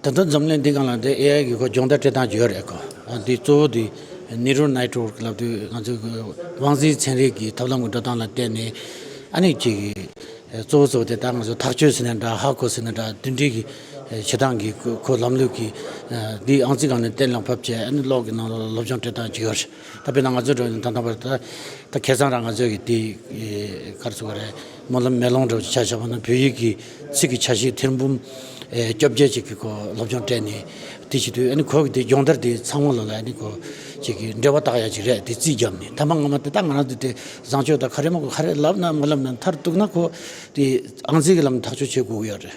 ད་དུང་འཛམ་གླིང་འདི་ག་ལ་འདི AI གི་སྒོ་སྦྱོང་བརྡ་སྤྲོད་སྟངས་ཡོད་རེད་ཀོ། འདི་གཙོ་བོ་འདི Neural Network ལབ་དུས་ང་ཚོས་དབང་འཛིན་ཚན་རིག་གི་ཐབས་ལམ་གྱི་འགྲོ་སྟངས་ལ་བལྟས་ནས་ཨ་ནི་གཅིག་གཙོ་བོ་གཙོ་བོ་དེ་ད་ང་ཚོས་ཐག་གཅོད་ཟེར་ནས་འདྲ་ཧ་གོ་ཟེར་ནས་འདྲ་དོན་འདྲི་གི་བྱེད་སྟངས་ཀྱི་ཁོ་ལམ་ལུགས་ཀྱི་འདི་ཨང་རྩིས་གང་ནས་གཏན་ལ་ཕབ་བྱས་ཨ་ནི་གློག་གི་ནང་ལ་སློབ་སྦྱོང་སྤྲོད་སྟངས་ཅིག་ཡོད་རེད་ད་དཔེར་ན་ང་ཚོའི་འགྲོ་ན་ད་ལྟ་བར་ད་ཁེ་བཟང་རང་ང་ཚོས་ཀྱི་འདི་གར་ཚུགས་པ་རེད། སྨོན་ལམ་མེ་ལོང་སྒྲོག་ཅེས་བྱ་བྱ་བ་ནི་བོད་ཡིག་གི་ཚིག་གི་ཆ་ཤས་ཐེར་འབུམ་བཅོ་བརྒྱད་ཅིག་གི་སྐོར་སློབ་སྦྱོང་སྤྲད་ནས་དེ་བྱེད་དུས་གོ་གི་དེ་སྦྱོང་བརྡར་དེ་ཚང་མ་ལ་ལ་ནི་གོ་བྱེད་ཀྱི་འབྲེལ་བ་བཏགས་ཡ་ཅིག་རེད་དེ་རྩིས་བརྒྱབ་ནས་ཐ་མ་སྔ་མ་དེ་དག་ང་རང་ཚོ་དེ་བཟང་སྤྱོད་དང་ཁ་རས་མ་གོ་ཁ་རས་ལབ་ན་མ་ལབ་ན་མཐར་གཏུགས་ན་གོ་དེ་ཨང་རྩིས་ཀྱི་ལམ་ཐག་གཅོད་བྱེད་དགོས་ཀྱི་ཡོད་རེད།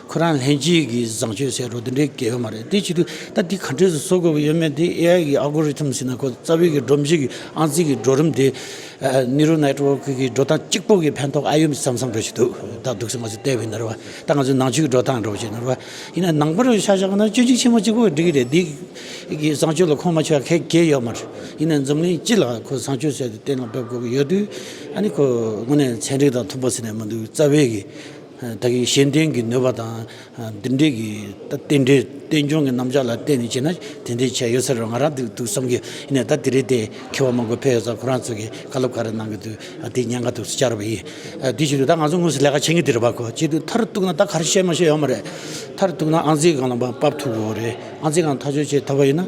ཁོ་རང་ལྷན་སྐྱེས་ཀྱི་བཟང་སྤྱོད་ཟེར་རོ་དེ་འདྲའི་གལ་ཡོད་མ་རེད་དེའི་ཕྱིར་དུ་ད་དེ་ག་འདྲས་སུ་བཟོ་དགོས་པ་ཡོད་མེད་དེ AI གི Algorithm ཟེར་ན་ཁོ་རྩ་བའི་གི་སྒྲོམ་གཞི་གི་ཨང་རྩིས་ཀྱི་འགྲོ་རིམ་དེ Neural Network གི་འགྲོ་སྟངས་གཅིག་པོ་གི་ཕན་ཐོགས་ཨ་ཡོད་བསམ་བསམ་འགྲོ་བཞིན་འདུག་ད་སྡུག་སེམས་མ་ཟོས་ལྟས་བུ་ནོར་བ་ད་ང་ཚོའི་ནང་ཆོས་ཀྱི་འགྲོ་སྟངས་འགྲོ་བཞིན་ནོར་བ་ཡིན་ན་ནང་པར་ཤ་ཞག་ན་སྤྱོད་འཇུག་ཆེན་མོ་གཅིག་པོ་འགྲིག་གི་རེད་དེའི་གི་བཟང་སྤྱོད་ལ་ཁོང་མ་ཆོས་ཀ་ཁའི་གལ་ཡོད་མ་རེད་ཡིན་ན་འཛམ་གླིང་སྤྱི་ལ་ཁོ་བཟང་སྤྱོད་ཟེར་དེ་གཏན་ལ་འབེབས་དགོས་གི་ཡོད་དུས་ཨ་ནི་ཁོ་དངོས་གནས་ཚན་རིག་དང་མཐུན་པོ་ཟེར་ནས་མི་འདུག་རྩ་བའི་གི། བདག་གིས་གཞན་བརྟེན་གྱི་ནུས་པ་དང་འདི་འདྲའི་གི་རྟེན་འབྲེལ་རྟེན་འབྱུང་གི་རྣམ་གཞག་ལ་བརྟེན་ནས་བྱས་ན་དེ་འདྲའི་ཆ་ཡོད་ས་རེད་ང་རང་འདུག་འདུག་བསམ་གྱི་ཡིན་ནས་ད་དེ་རིང་དེ་ཁེ་བ་མང་པོ་འཕེལ་ཡོད་ས་ཁོ་རང་ཚོ་གི་བཀའ་སློབ་ག་རེ་གནང་གི་འདུག་དེ་ཉན་ག་འདུག་བཅར་བ་ཡིན། དེ་བཞིན་དུ་ད་ང་ཚོ་དངོས་སུ་ལས་ཀ་བྱེད་ཀྱི་འདི་རེད་པ་གོ་བྱེད་འདུག་མཐར་གཏུགས་ན་ད་ག་རེ་བཤད་མ་བཤད་ཡོད་མ་རེད་མཐར་གཏུགས་ན་ཨང་རྩིས་གང་ལ་འབབ་ཐུབ་ཀྱི་འོ་རེད་ཨང་རྩིས་གང་ཐག་གཅོད་བྱེད་ཐུབ་པ་ཡིན་ན།